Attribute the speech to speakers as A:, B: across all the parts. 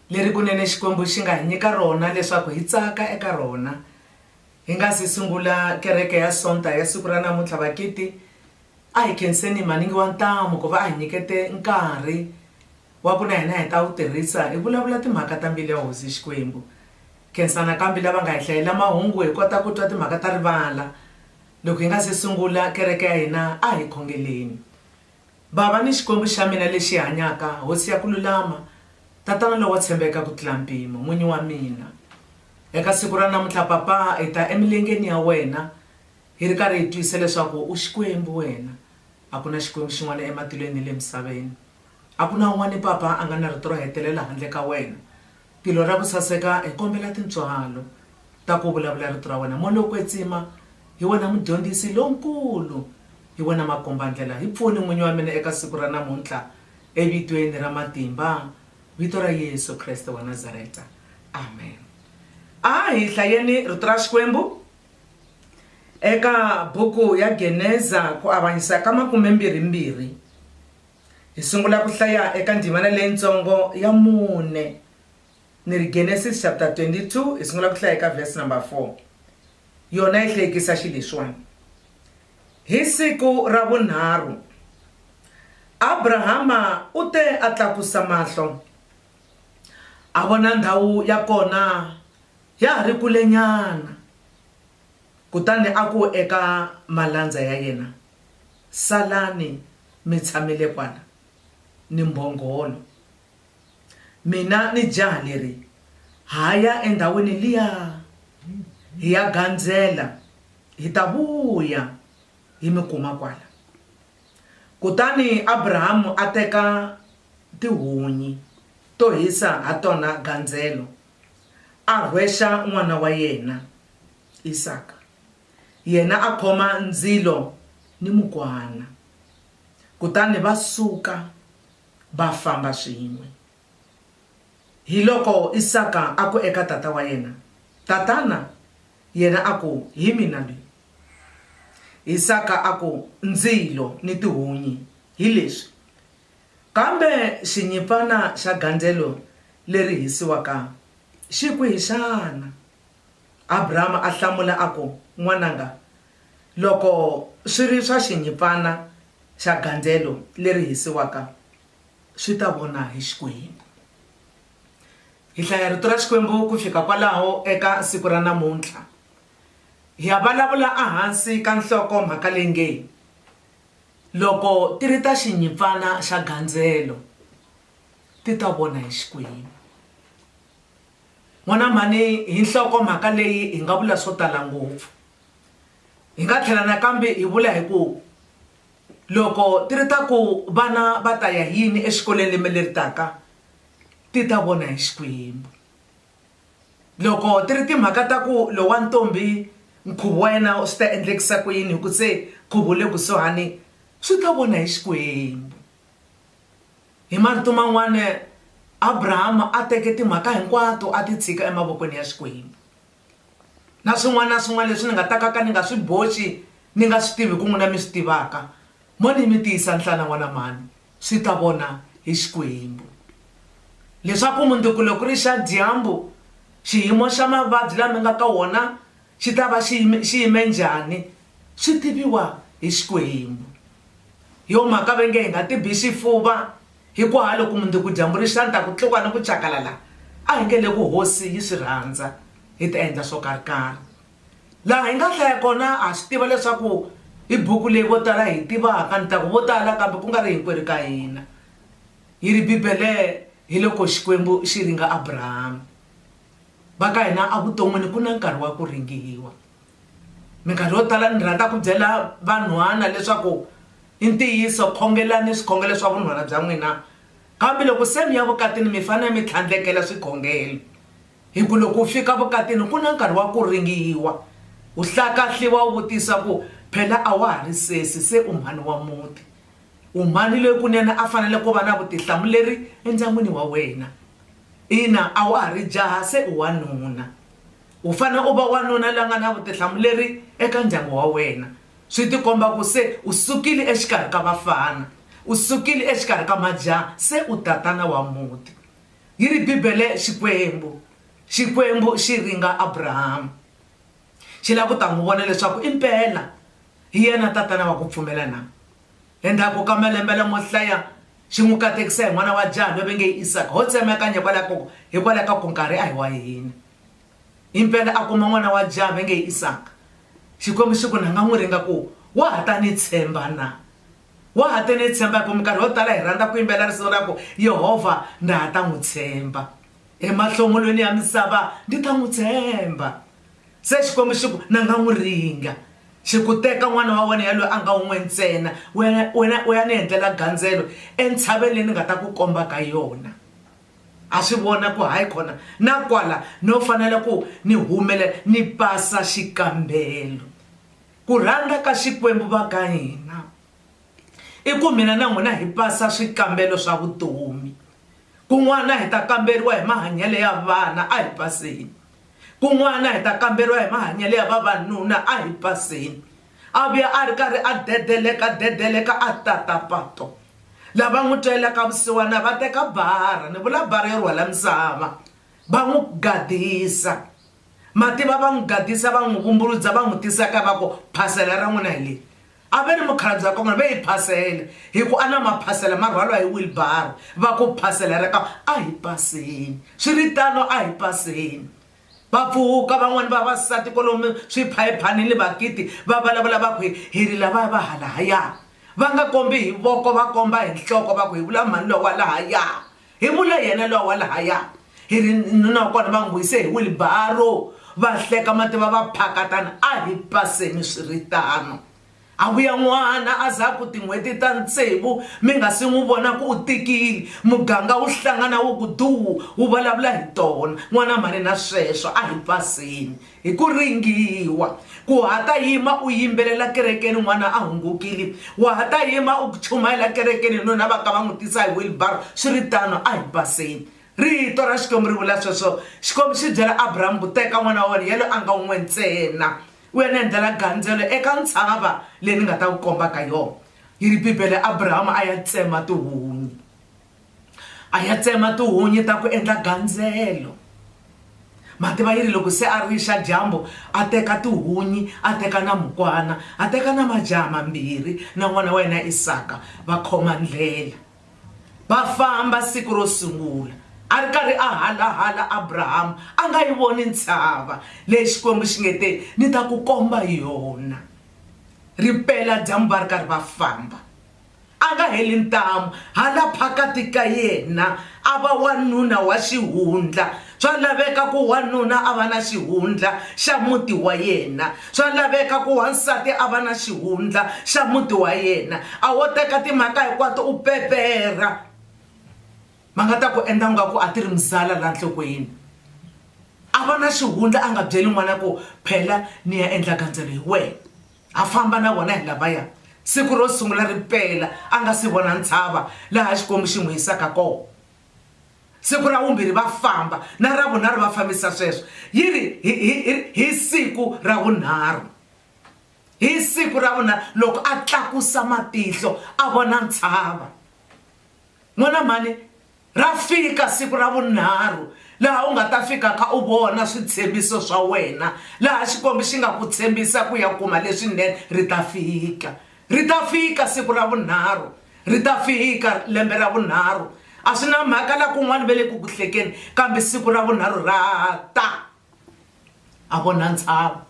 A: leri kunene Xikwembu xi nga hi nyika rona leswaku hi tsaka eka rona. Hi nga si sungula Kereke ya Sonta ya siku ra namuntlha, Vakiti, a hi khenseni Maningi wa Ntamu ku va a hi nyikete nkarhi wa ku na hina hi ta wu tirhisa hi vulavula timhaka ta mbilu ya Hosi Xikwembu. Khensa nakambe lava nga hi hlayela mahungu hi kota ku twa timhaka ta rivala. Loko hi nga si sungula kereke ya hina, a hi khongeleni. Bava ni Xikwembu xa mina lexi hanyaka, Hosi ya ku lulama, Tatana lowo tshembeka ku tlula mpimo, N'winyi wa mina. Eka siku ra namuntlha, Papa, hi ta emilengeni ya wena hi ri karhi hi twisisa leswaku u Xikwembu wena. A ku na Xikwembu xin'wana ematilweni ni le misaveni. A ku na un'wana, Papa, a nga na rito ro hetelela handle ka wena. Tilo ra ku saseka, hi kombela tintswalo ta ku vulavula Rito ra wena. Moya wo kwetsima, hi wena Mudyondzisi lonkulu, hi wena Makombandlela. Hi pfuni, N'winyi wa mina, eka siku ra namuntlha, eVitweni ra matimba, Vito ra Yesu Kreste wa Nazareta. Amen. A hi hlayeni Rito ra Xikwembu eka buku ya Geneza, ku avanyisa ka makumembirhi-mbirhi. Hi sungula ku hlaya eka ndzimana leyitsongo ya mune. Ni ri Genesis chapter 22 hi sungula ku hlaya eka verse number 4. Yona yi hlekisa xi leswiwani. Hi siku ra vunharhu Abrahama u te a tlakusa mahlo a vona ndhawu ya kona ya ha ri kulenyana kutani a ku eka malandza ya yena, Salani mitshamelekwana ni mbhongolo. Mina ni jaha leri ha ya endhawini liya hi ya gandzela, hi ta vuya hi mi kuma kwala. Kutani Abrahamu a teka tihunyi to hisa ha tona gandzelo, a rhwexa n'wana wa yena Isaka. Yena a khoma ndzilo ni mukwana, kutani va suka va famba swin'we. Hiloko Isaka a ku eka tata wa yena, Tatana! Yena a ku, Hi mina loyi. Isaka a ku, Ndzilo ni tihunyi hi leswi, kambe xinyimpfana xa gandzelo leri hisiwaka xi kwihi xana? Abrahama a hlamula a ku, N'wananga, loko swi ri swa xinyimpfana xa gandzelo leri hisiwaka, swi ta vona hi Xikwembu. Hi hlaya Rito ra Xikwembu ku fika kwalaho eka siku ra namuntlha. Hi ya vulavula ehansi ka nhloko-mhaka leyi nge, Loko Ti Ri Ta Xinyimpfana Xa Gandzelo, Ti Ta Vona Hi Xikwembu. N'wana mhani hi nhlokomhaka leyi hi nga vula swo tala ngopfu. Hi nga tlhela nakambe hi vula hi ku loko ti ri ta ku vana va ta ya hi yini exikolweni lembe leri taka ti ta vona hi Xikwembu. Loko ti ri timhaka ta ku lowu wa ntombi nkhuvo wa yena swi ta endlekisa ku yini hi ku se nkhuvo wu le kusuhani swi ta vona hi Xikwembu. Hi marito man'wana Abrahama a teke timhaka hinkwato a ti tshika emavokweni ya Xikwembu. Na swin'wana na swin'wana leswi ni nga ta ka ka ni nga swi boxi ni nga swi tivi ku n'wina mi swi tivaka, mo ni mi tiyisa nhlana n'wana mhani, swi ta vona hi Xikwembu. Leswaku mundzuku loko ku ri xa dyambu, xiyimo xa mavabyi laha mi nga ka wona Xi ta va xi yime, xi yime njhani, swi tiviwa hi Xikwembu. Hi yo mhaka va nge, Hi nga tibi xifuva, hikuhalo ku mundzuku dyambu ri xa ni ta ku tluka ni ku tjakalala, a hi nge leku Hosi yi swi rhandza, hi ta endla swo karhi-karhi. Laha hi nga hlaya kona, ha swi tiva leswaku hi buku leyi vo tala hi yi tivaka, ni ta ku vo tala kambe ku nga ri hinkwerhu ka hina, yi ri, Bibele, hiloko Xikwembu xi ringa Abrahama. Va ka hina a vuton'wini ku na nkarhi wa ku ringiwa. Minkarhi yo tala ni rhandza ku byela vanhwana leswaku i ntiyiso khongelani swikhongelo swa vunhwana bya n'wina kambe loko se mi ya vukatini mi fanele mi tlhandlekela swikhongelo hi ku loko u fika vukatini ku na nkarhi wa ku ringiwa u hlakahliwa u vutisa ku phela a wa ha ri sesi se u mhani wa muti. U mhani loyi kunene a fanele ku va na vutihlamuleri endyangwini wa wena? Ina, a wa ha ri jaha, se u wanuna. U fanele u va wanuna la nga na vutihlamuleri eka ndyangu wa wena. Swi tikomba ku se u sukile exikarhi ka vafana, u sukile exikarhi ka majaha, se u tatana wa muti. Yi ri Bibele, Xikwembu, Xikwembu xi ringa Abrahama. xi lava ku ta n'wi vona leswaku impela hi yena tatana wa ku pfumela na. Endzhaku ka malembe lamo hlaya, xi n'wi katekisa hi n'wana wa jaha loyi va nge i Isaka. Ho tsemakanya hikwalaho ka ku nkarhi a hi wa hina. Impela a kuma n'wana wa jaha va nge i Isaka. Xikwembu xi ku na nga n'wi ringa ku, Wa ha ta ni tshemba na? Wa ha ta ni tshemba? Hikuva minkarhi yo tala hi rhandza ku yimbelela risimu ra ku, Yehovha ndza ha ta n'wi tshemba. Emahlongolweni ya misava ndi ta n'wi tshemba. Se Xikwembu xi ku, Na nga n'wi ringa. Xi ku, Teka n'wana wa wena yaloye a nga un'we ntsena, u ya u ya u ya ni endlela gandzelo entshaveni leyi ni nga ta ku komba ka yona. A swi vona ku hayi kona na kwala no fanela ku ni humelela ni pasa xikambelo. Ku rhandza ka Xikwembu va ka hina I ku mina na n'wina hi pasa swikambelo swa vutomi. Kun'wana hi ta kamberiwa hi mahanyelo ya vana, a hi paseni. Kun'wana hi ta kamberiwa hi mahanyelo ya vavanuna, a hi paseni. A vuya a ri karhi a dedeleka-dedeleka a tata pato. Lava n'wi twelaka vusiwana va teka bara, ni vula bara yo rhwala misava, va n'wi gadisa. Ma tiva va n'wi gadisa, va n'wi vumbuludza, va n'wi tisa kaya va ku, phasela ra n'wina hi leri. A va ri mukhalabye wa kongoma, va hi phasele, hi ku a na maphasela ma rhwalwa hi wilibaro, va ku, Phasela ra ka, a hi paseni. Swi ri tano, a hi paseni. Va pfuka van'wana vavasati kolomu swiphayiphanini ni bakiti, va valavula va ku, Hi, hi ri lavaya va halahaya. Va nga kombi hi voko, va komba hi nhloko, va ku, Hi vula mhani lowa lahaya. Hi vule yena lowa wa lahaya. Hi ri nuna wa kona va n'wi vuyise hi wilibaro, va hleka mativa va phakatana. A hi paseni swi ri tano. A vuya n'wana a za ku tin'hweti ta tsevu mi nga si n'wi vona ku u tikile. Muganga wu hlangana wu ku duwu, wu vulavula hi tona. N'wana mhani na sweswo. A hi paseni. hi ku ringiwa ku ha ta yima u yimbelela kerekeni n'wana a hungukile wa ha ta yima u chumayela kerekeni nuna va ka va n'wi tisa hi wilbaro swi ri tano a hi baseni rito ra xikwembu ri vula sweswo xikwembu xi byela abrahamu ku teka n'wana wa wena yelo a nga un'we ntsena u ya ni endlela gandzelo eka ntshava leyi ni nga ta ku kombaka yona yi ri bibele abrahamu a ya tsema tihunyi A ya tsema tihunyi ta ku endla gandzelo. Matibayiri loko se a rixa dyambu, a teka tihunyi, a teka na mukwana, a teka na majaha mambirhi na n'wana wa yena Isaka, va khoma ndlela. Va famba siku ro sungula. A ri karhi a halahala Abrahama, a nga yi voni ntshava leyi Xikwembu xi nge te, Ni ta ku komba yona. Ri pela dyambu va ri karhi va famba. a nga heli ntamu, hala phakati ka yena a va wanuna wa xihundla. Swa laveka ku wanuna a va na xihundla xa muti wa yena. Swa laveka ku wansati a va na xihundla xa muti wa yena. A wo teka timhaka hinkwato u peperha, va nga ta ku endla ingaku a ti ri muzala laha nhlokweni. A va na xihundla a nga byeli n'wana ku phela ni ya endla gandzelo hi wena. a famba na vona hi lavaya siku ro sungula ri pela a nga si vona ntshava laha xikwembu xi n'wi yisaka kona siku ra vumbirhi va famba na ra vunharhu va fambisa sweswo yi ri hi siku ra vunharhu hi siku ra vunharhu loko a tlakusa matihlo a vona ntshava n'wana mhani Ra fika siku ra vunharhu, laha u nga ta fikaka u vona switshembiso swa wena, laha Xikwembu xi nga ku tshembisa ku ya kuma leswinene. Ri ta fika. Ri ta fika siku ra vunharhu. Ri ta fika lembe ra vunharhu. A swi na mhaka laha kun'wana va le ku ku hlekeni, kambe siku ra vunharhu ra ta. A vo na ntshava.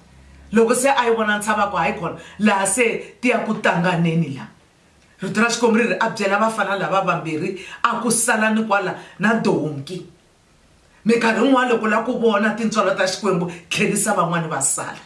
A: Loko se a yi vona ntshava a ku, Hayi kona laha se ti ya ku tanganeni laha. Rito ra Xikwembu ri ri, A byela vafana lava vambirhi, a ku, Salani kwala na donki. Minkarhi yin'wana loko u lava ku vona tintswalo ta Xikwembu, tlherisa van'wana va sala.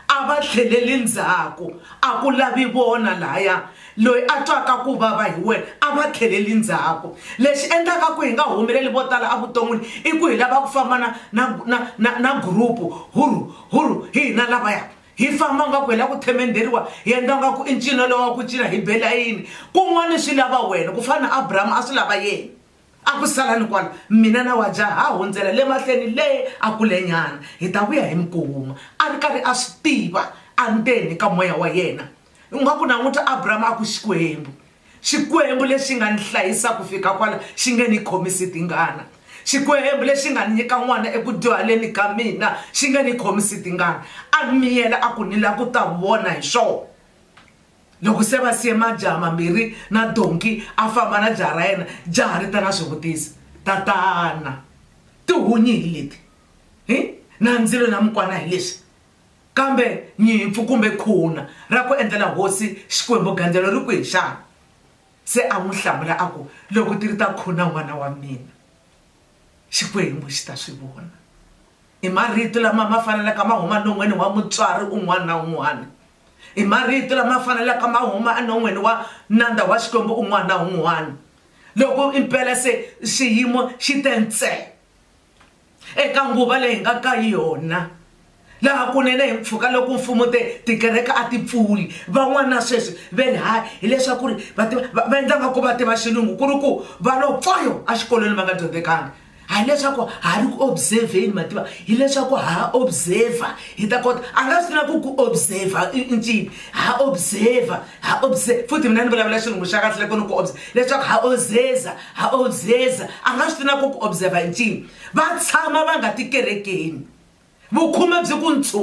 A: A va tlheleli ndzhaku, a ku lavi vona lahaya. Loyi a twaka ku vava hi wena, a va tlheleli ndzhaku. Lexi endlaka ku hi nga humeleli vo tala evuton'wini i ku hi lava ku famba na na na na na group-u, hurhu, hurhu, hi hina lavaya. Hi famba ngaku hi la ku themendheriwa, hi endla ngaku i ncino lowa ku cina hi be layini. Kun'wani swi lava wena, ku fana na Abrahama a swi lava yena. A ku salani kwala, mina na wa jaha ha hundzela le mahlweni le a kulenyana, hi ta vuya hi mi kuma. A ri karhi a swi tiva, a ri ndzeni ka moya wa yena. U nga ku languta Abrahama a ku Xikwembu, Xikwembu lexi nga ni hlayisa ku fika kwala xi nge ni khomisi tingana, Xikwembu lexi nga ni nyika n'wana eku dyuhaleni ka mina xi nge ni khomisi tingana. A miyela a ku, Ni lava ku ta vona hi swona. Loko se va siye majaha mambirhi na donki a famba na jaha ra yena, jaha ri ta na swivutiso, Tatana, tihunyi hi leti, hi na ndzilo na mukwana hi leswi? Kambe nyimpfu kumbe khuna ra ku endlela hosi Xikwembu-gandzelo ri kwihi xana? Se a n'wi hlamula a ku, Loko ti ri ta khuna n'wana wa mina, Xikwembu xi ta swi vona. I marito lama ma fanelaka ma huma non'weni wa mutswari un'wana na un'wana. I marito lama fanelaka ma huma enon'weni wa nandza wa Xikwembu un'wana na un'wana, loko impela se xiyimo xi te ntsee. Eka nguva leyi hi nga ka yona, laha kunene hi mpfhuka loko mfumo te tikereke a ti pfuli, van'wana sweswi ve ri haya hileswaku ri va tiva va va endla nga ku va tiva Xilungu ku ri ku va lo pfoyo exikolweni va nga dyondzekanga. A hi leswaku ha ri ku observe-ni ma tiva, hileswaku ha observe-a hi ta kota. A nga swi tiva ku ku observe-a i i ncini, ha observe-a ha observe-a futhi mina ni vulavula Xilungu xa kahle loko ni ku observe-a leswaku ha observe-a. Ha obseza, a nga swi tiva na ku ku observa i ncini. Va tshama va nga ti kerekeni. Vukhume byi ku ntswu.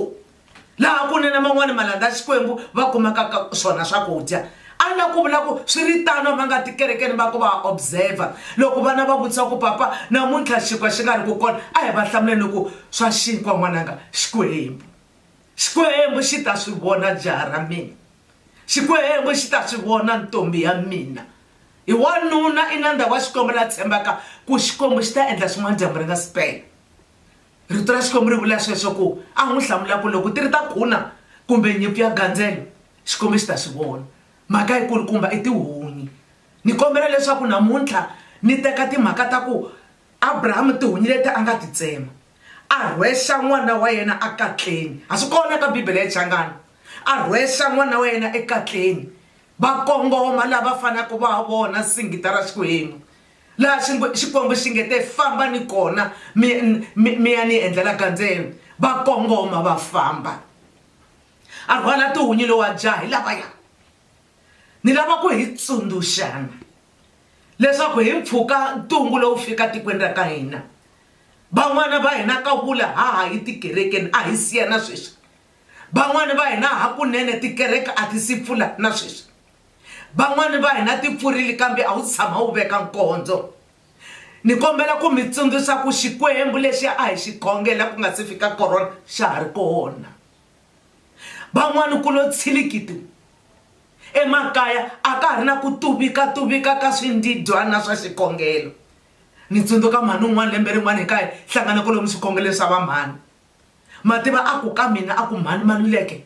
A: Laha kunene man'wana malandza ya Xikwembu va kumaka ka swona swakudya. A la ku vula ku, swi ri tano a va nga ti kerekeni va ku va ha observa. Loko vana va vutisa ku, Papa, namuntlha xinkwa xi nga ri ku kona, a hi va hlamuleni ku, Swa xinkwa n'wananga, Xikwembu. Xikwembu xi ta swi vona jaha ra mina. Xikwembu xi ta swi vona ntombhi ya mina. Hi wanuna i nandza wa Xikwembu la tshembaka ku Xikwembu xi ta endla swin'wana dyambu ri nga si pela. Rito ra Xikwembu ri vula sweswo ku a n'wi hlamula ku loko ti ri ta khuna kumbe nyimpfu ya gandzelo Xikwembu xi ta swi vona. Mhaka yi kulukumba i tihunyi. Ni kombela leswaku namuntlha ni teka timhaka ta ku Abrahamu tihunyi leti a nga ti tsema a rhwexa n'wana wa yena a katleni, a swi kona ka Bibele ya Xichangana, a rhwexa n'wana wa yena ekatleni va kongoma laha va fanaka va vona singita ra Xikwembu laha xingo Xikwembu xi nge te famba ni kona mi mi mi ya ni endlela gandzelo va kongoma va famba a rhwala tihunyi lowu a jaha hi lavaya ni lava ku hi tsundzuxana leswaku hi mpfhuka ntungu lowu fika tikweni ra ka hina van'wana va hina ka vula ha ha yi tikerekeni a hi siyana sweswi Van'wana va hina hakunene tikereke a ti si pfula na sweswi. Van'wana va hina ti pfurile kambe a wu si tshama wu veka nkondzo. Ni kombela ku mi tsundzuxa ku Xikwembu lexi a hi xi khongela ku nga si fika Corona xa ha ri kona. Van'wana ku lo tshilikitu emakaya, a ka ha ri na ku tuvikatuvika ka swindidyana swa xikhongelo. Ni tsundzuka mhani un'wana lembe rin'wana hi kaya hi hlangana kolomu swikhongelweni swa vamhani. Ma tiva a ku ka mina, a ku, Mhani Maluleke,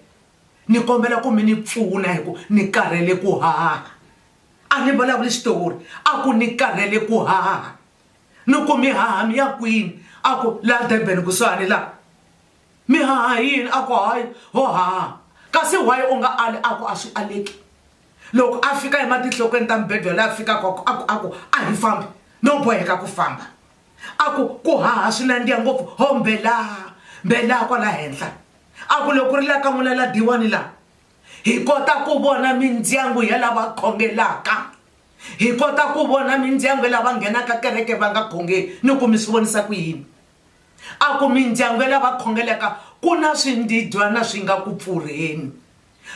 A: ni kombela ku mi ni pfuna hi ku ni karhele ku haha. A ni vulavuli Xitori. A ku, Ni karhele ku haha. Ni ku, Mi haha mi ya kwini? A ku, Laha Durban kusuhani laha. Mi haha hi yini? A ku, Hayi, ho haha. Kasi why u nga ali? A ku, A swi aleki. Loko a fika ematinhlokweni ta mibedwa laha a fikaka, a ku, a ku, A hi fambi. No boheka ku famba. a ku ku haha swi nandziha ngopfu ho mbelaa mbelaa kwala henhla a ku loko ri la ka n'wina la diwani laha hi kota ku vona mindyangu ya lava khongelaka hi kota ku vona mindyangu ya lava nghenaka kereke va nga khongeli ni ku mi swi vonisa ku yini a ku mindyangu ya lava khongelaka ku na swindidyana swi nga ku pfurheni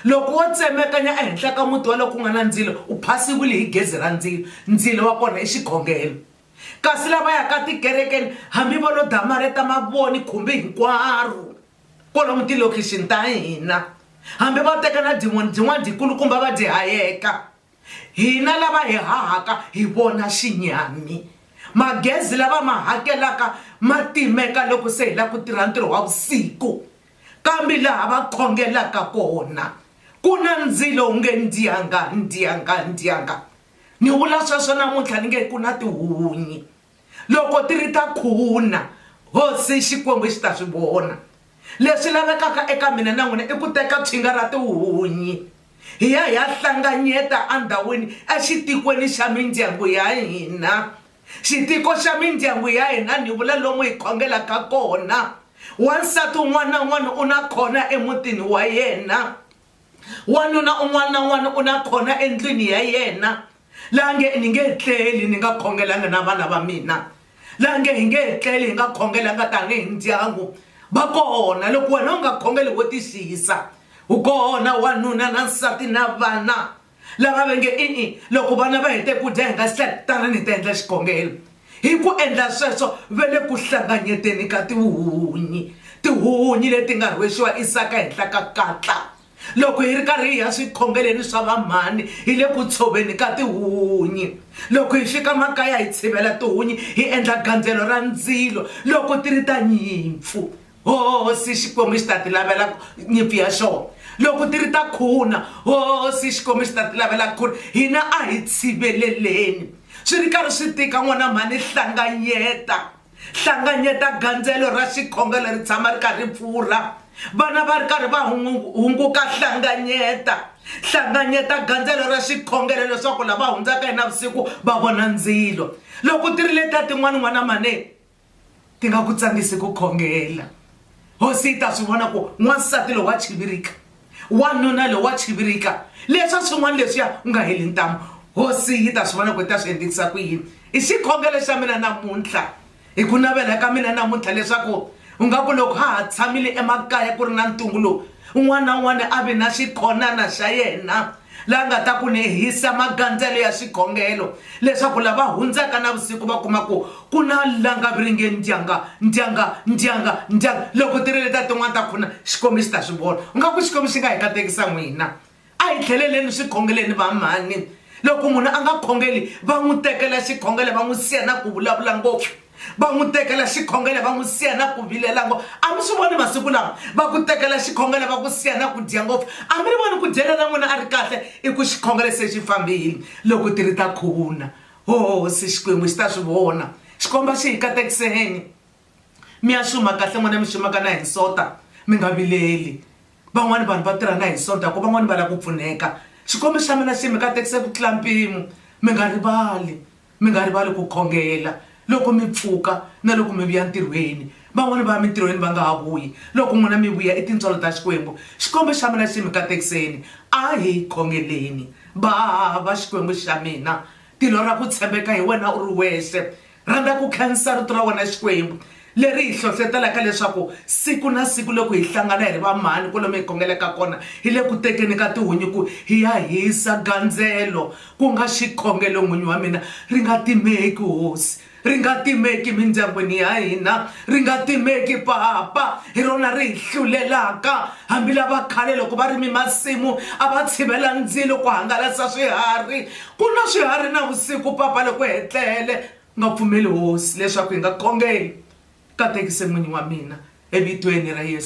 A: loko wo tsemekanya ehenhla ka muti wa loko ku nga na ndzilo u phasiwile hi gezi ra ndzilo ndzilo wa kona i xikhongelo Kasi lava yaka tikerekeni hambi vo lo damarheta mavoni khumbi hinkwaro kwalomu tilokixini ta hina, hambi va teka na dimoni jin'wana jikulukumba va ji hayeka, hina lava hi hahaka hi vona xinyami. Magezi la va ma hakelaka ma timeka loko se hi lava ku tirha ntirho wa vusiku, kambe laha va khongelaka kona ku na ndzilo wu nge ndyanga, ndyanga, ndyanga. ni vula sweswo namuntlha ni nge ku na tihunyi loko ti ri ta khuna hosi xikwembu xi ta swi vona leswi lavekaka eka mina na n'wina i ku teka tshinga ra tihunyi hi ya hi ya hlanganyeta endhawini exitikweni xa mindyangu ya hina xitiko xa mindyangu ya hina ni vula lomu hi khongelaka kona wansati un'wana na un'wana u na khona emutini wa yena wanuna un'wana na un'wana u na khona endlwini ya yena laha nge ni nge tleli ni nga khongelanga na vana va mina laha nge hi nge tleli hi nga khongelanga tanihi ndyangu va kona loko wena u nga khongeli wo tixiyisa wu kona wanuna na nsati na vana lava va nge i-i loko vana va hete ku dya hi nga si tlhela tanani hi ta endla xikongelo hi ku endla sweswo va le ku hlanganyeteni ka tihuhunyi tihuhunyi leti nga rhwexiwa isaka henhla ka katla loko hi ri karhi hi ya swikhongeleni swa vamhani hi le ku tshoveni ka tihunyi loko hi fika makaya hi tshivela tihunyi hi endla gandzelo ra ndzilo loko ti ri ta nyimpfu hosi xikwembu xi ta ti lavela nyimpi ya xona loko ti ri ta khuna hosi xikwembu xi ta ti lavela ku ri hina a hi tshiveleleni swi ri karhi swi tika n'wana mhani hlanganyeta hlanganyeta gandzelo ra xikhonga leri tshama ri karhi pfurha vana va ri karhi va hunguka hlanganyeta hlanganyeta gandzelo ra xikhongelo leswaku lava hundzaka hi navusiku va vona ndzilo loko ti ri leta tin'wana n'wana mhani ti nga ku tsakisi ku khongela hosi yi ta swi vona ku n'wansati lowu wa chivirika wanuna lowu wa chivirika leswa swin'wana leswiya u nga heli ntamu hosi yi ta swi vona ku ta swi endlekisa ku yini i xikhongelo xa mina namuntlha hi ku navela ka mina namuntlha leswaku u nga ku loko ha ha tshamile emakaya ku ri na ntungu lowu Un'wana na un'wana a vi na xikhonana xa yena la nga ta ku lehisa magandzelo ya xikhongelo leswaku lava hundzaka navusiku va kuma ku ku na langaviringe ndyanga, ndyanga, ndyanga, ndyanga. Loko ti ri leta tin'wana ta khuna, Xikwembu xi ta swi vona. U nga ku Xikwembu xi nga hi katekisa n'wina. A hi tlheleleni swikhongeleni, vamhani. Loko munhu a nga khongeli, va n'wi tekela xikhongelo va n'wi siya na ku vulavula ngopfu. Va n'wi tekela xikhongelo va n'wi siya na ku vilela ngopfu. A mi swi voni masiku lawa? Va ku tekela xikhongelo va ku siya na ku dya ngopfu. A mi ri voni ku dyela na n'wina a ri kahle? I ku xikhongelo se xi fambile. Loko ti ri ta khuvuna, ho hosi Xikwembu xi ta swi vona. Xikomba xi hi katekiseni, Mi ya xuma kahle n'wina mi xumaka na hi nsota, mi nga vileli. Van'wana vanhu va tirha na hi sonta ku van'wana va lava ku pfuneka. Xikwembu xa mina xi mi katekise ku tlula mpimo. Mi nga rivali, mi nga rivali ku khongela loko mi pfuka na loko mi vuya ntirhweni. Van'wana va ya mintirhweni va nga ha vuyi, loko n'wina mi vuya i tintswalo ta Xikwembu. Xikwembu xa mina xi mi katekiseni. A hi khongeleni. Bava, Xikwembu xa mina, tilo ra ku tshembeka hi wena u ri wexe. Rhandza ku khensa Rito ra wena Xikwembu, leri hi hlohletelaka leswaku siku na siku loko hi hlangana hi ri va mhani kwalomu hi khongelaka kona, hi le ku tekeni ka tihunyi ku hi ya hisa gandzelo, ku nga xikhongelo, N'winyi wa mina. Ri nga timeki, Hosi. Ri nga timeki emindyangwini ya hina. Ri nga timeki, Papa. Hi rona ri hi hlulelaka. Hambi lava khale loko va rime masimu, a va tshivela ndzilo ku hangalasa swiharhi, Ku nwa swiharhi navusiku papa loko hi tlele nga pfumeli Hosi leswaku hi nga khongeli, katekise n'wini wa mina eVitweni ra Yesu.